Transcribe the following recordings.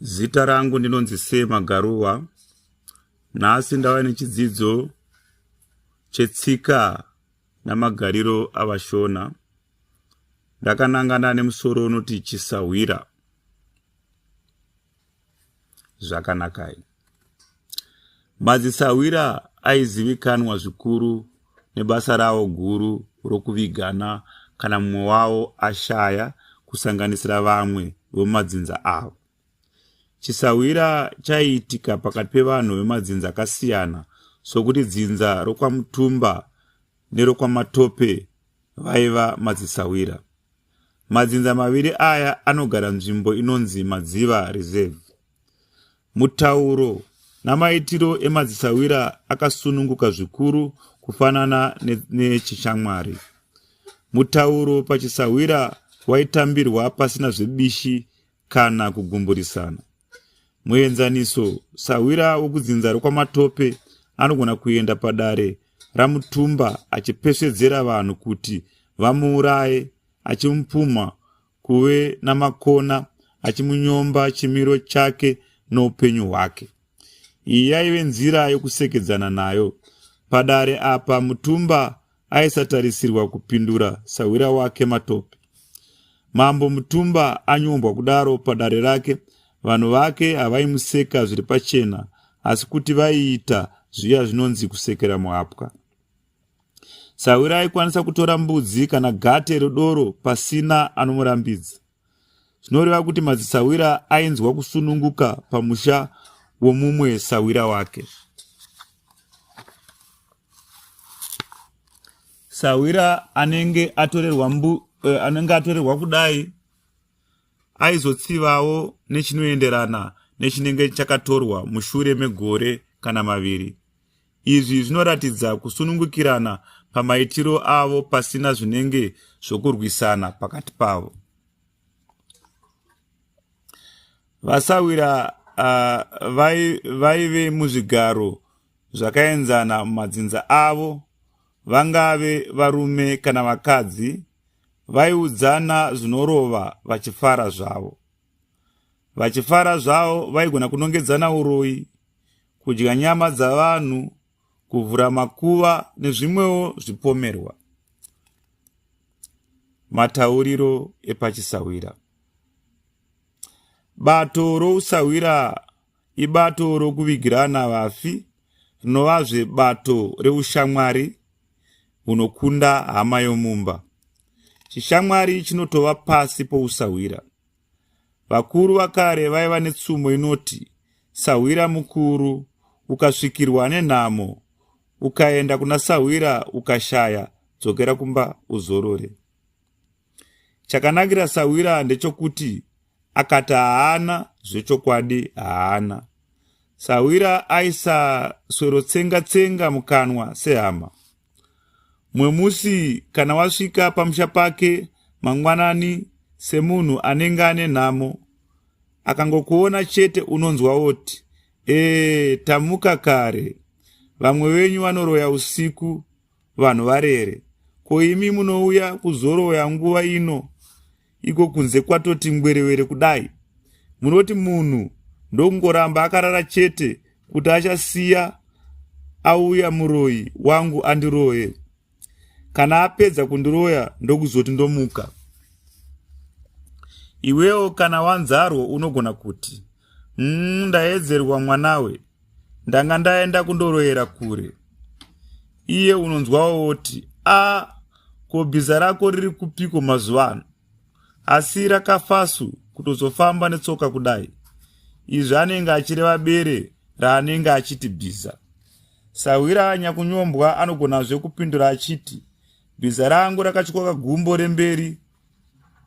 Zita rangu ndinonzi Sema Garuwa. Nhasi ndava nechidzidzo chetsika namagariro avashona. Ndakanangana nemusoro unoti chisahwira. Zvakanakai. Madzisahwira aizivikanwa zvikuru nebasa rawo guru rokuvigana kana mumwe wawo ashaya kusanganisira vamwe vemumadzinza avo. Chisahwira chaiitika pakati pevanhu vemadzinza akasiyana sokuti dzinza rokwaMutumba nerokwamatope vaiva madzisahwira madzinza maviri aya anogara nzvimbo inonzi madziva reserve Mutauro namaitiro emadzisahwira akasununguka zvikuru kufanana nechishamwari. Mutauro pachisahwira waitambirwa pasina zvebishi kana kugumburisana. Muenzaniso, sahwira wokudzinza rokwamatope anogona kuenda padare ramutumba achipesvedzera vanhu kuti vamuuraye achimupumha kuve namakona achimunyomba chimiro chake noupenyu hwake iyi yaive nzira yokusekedzana nayo padare apa mutumba aisatarisirwa kupindura sahwira wake matope mambo mutumba anyombwa kudaro padare rake vanhu vake havaimuseka zviri pachena asi kuti vaiita zviya zvinonzi kusekera muhapwa Sahwira aikwanisa kutora mbudzi kana gate redoro pasina anomurambidza. Zvinoreva kuti madzisahwira ainzwa kusununguka pamusha womumwe sahwira wake. Sahwira anenge atorerwa mbu, eh, anenge atorerwa kudai aizotsivawo nechinoenderana nechinenge chakatorwa mushure megore kana maviri. Izvi zvinoratidza kusunungukirana pamaitiro avo pasina zvinenge zvokurwisana pakati pavo. Vasawira uh, vaive muzvigaro zvakaenzana mumadzinza avo vangave varume kana vakadzi vaiudzana zvinorova vachifara zvavo vachifara zvavo vaigona kunongedzana uroyi kudya nyama dzavanhu kuvhura makuva nezvimwewo zvipomerwa matauriro epachisahwira bato rousahwira ibato rokuvigirana vafi rinovazve bato reushamwari hunokunda hama yomumba chishamwari chinotova pasi pousahwira vakuru vakare vaiva netsumo inoti sahwira mukuru ukasvikirwa nenhamo ukaenda kuna sahwira ukashaya dzokera kumba uzorore chakanakira sahwira ndechokuti akati haana zvechokwadi haana sahwira aisaswerotsenga tsenga mukanwa sehama mumwe musi kana wasvika pamusha pake mangwanani semunhu anenge ane nhamo akangokuona chete unonzwa woti ee tamuka kare vamwe venyu vanoroya usiku vanhu varere ko imi munouya kuzoroya nguva ino iko kunze kwatoti ngwerewere kudai munoti munhu ndokungoramba akarara chete kuti achasiya auya muroyi wangu andiroye kana apedza kundiroya ndokuzoti ndomuka iwewo kana wanzarwo unogona kuti mm, ndaedzerwa mwanawe ndanga ndaenda kundoroyera kure iye unonzwawo woti a ko bhiza rako riri kupiko mazuva ano asi rakafasu kutozofamba netsoka kudai izvi anenge achireva bere raanenge achiti bhiza sahwira anyakunyombwa anogonazve kupindura achiti bhiza rangu rakatyoka gumbo remberi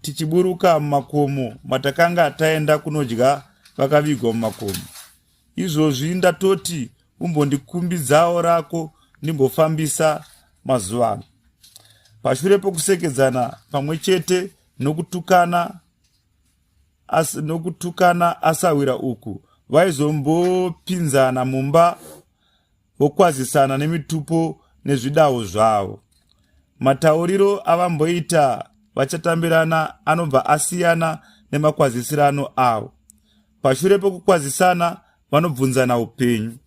tichiburuka mumakomo matakanga taenda kunodya vakavigwa mumakomo izvozvi ndatoti umbondikumbidzawo rako ndimbofambisa mazuva ano pashure pokusekedzana pamwe chete nokutukana as, nokutukana asahwira uku vaizombopinzana mumba vokwazisana nemitupo nezvidawo zvavo. Matauriro avamboita vachatambirana anobva asiyana nemakwazisirano avo. Pashure pokukwazisana vanobvunzana upenyu.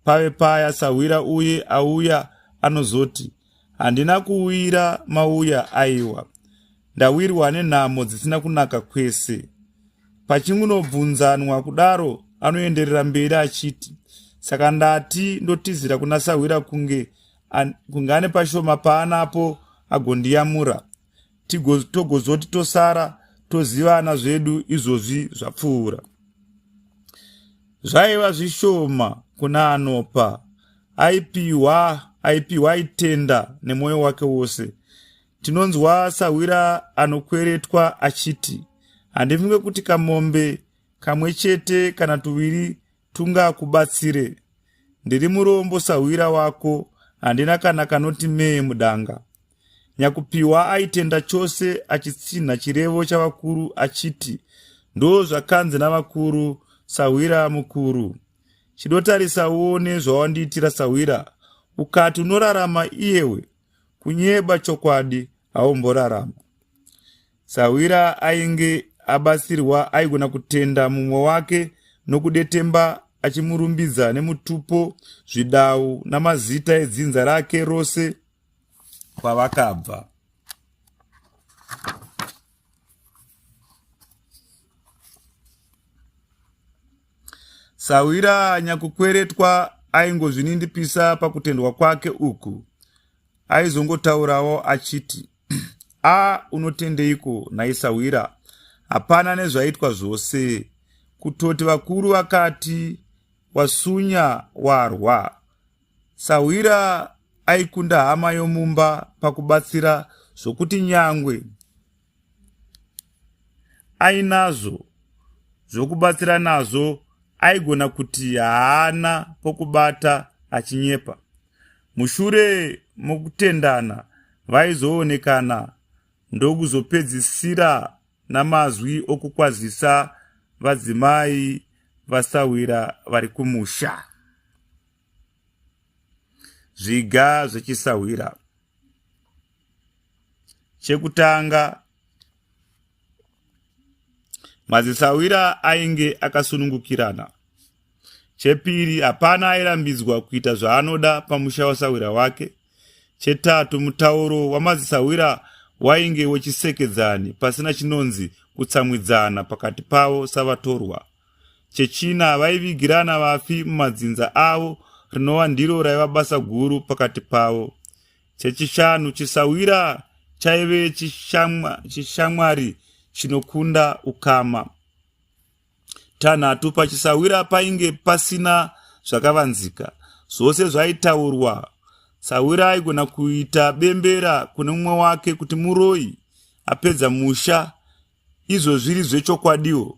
Pave paya sahwira uye auya anozoti, Handina kuwira mauya aiwa. Ndawirwa nenhamo dzisina kunaka kwese. Pachingunobvunzanwa kudaro anoenderera mberi achiti saka ndati ndotizira kuna sahwira kunge kunge ane pashoma paanapo agondiyamura togozoti tosara tozivana zvedu izvozvi zvapfuura zvaiva zvishoma kuna anopa aipiwa aipiwa aitenda nemwoyo wake wose tinonzwa sahwira anokweretwa achiti handifunge kuti kamombe kamwe chete kana tuviri tungakubatsire ndiri murombo sahwira wako handina kana kanoti mee mudanga nyakupiwa aitenda chose achitsinha chirevo chavakuru achiti ndo zvakanzi navakuru sahwira mukuru chidotarisa uone zvawandiitira sahwira ukati unorarama iyewe kunyeba chokwadi haumborarama Sahwira ainge abatsirwa aigona kutenda mumwe wake nokudetemba achimurumbidza nemutupo zvidau namazita edzinza rake rose kwavakabva sahwira nyakukweretwa aingozvinindipisa pakutendwa kwake uku aizongotaurawo achiti a unotendeiko naisahwira hapana nezvaitwa zvose kutoti vakuru vakati wasunya warwa sahwira aikunda hama yomumba pakubatsira zvokuti nyangwe ainazvo zvokubatsira nazvo aigona kuti haana pokubata achinyepa Mushure mokutendana, vaizoonekana ndokuzopedzisira namazwi okukwazisa vadzimai vasahwira vari kumusha. Zviga zvechisahwira. Chekutanga, madzisahwira ainge akasunungukirana. Chepiri, hapana airambidzwa kuita zvaanoda pamusha wasahwira wake. Chetatu, mutauro wamadzisahwira wainge wechisekedzani pasina chinonzi kutsamwidzana pakati pavo savatorwa. Chechina, vaivigirana vafi mumadzinza avo rinova ndiro raiva basa guru pakati pavo. Chechishanu, chisahwira chaive chishamwari chinokunda ukama. tanhatu pachisawira painge pasina zvakavanzika zvose zvaitaurwa sawira aigona kuita bembera kune mumwe wake kuti muroyi apedza musha izvo zviri zvechokwadiwo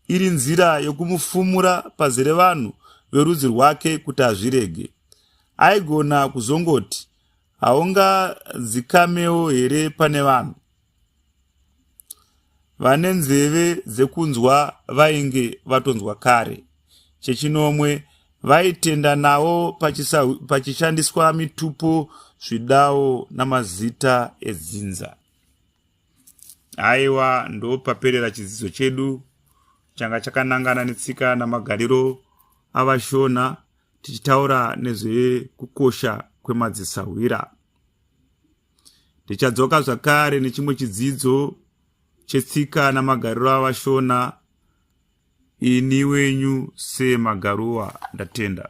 iri nzira yokumufumura pazere vanhu verudzi rwake kuti azvirege aigona kuzongoti haungadzikamewo here pane vanhu vane nzeve dzekunzwa vainge vatonzwa kare chechinomwe vaitenda nawo pachishandiswa mitupo zvidawo namazita edzinza aiwa ndopaperera chidzidzo chedu changa chakanangana netsika namagariro avashona tichitaura nezvekukosha kwemadzisahwira tichadzoka zvakare nechimwe chidzidzo chetsika namagariro avashona ini wenyu semagaruwa ndatenda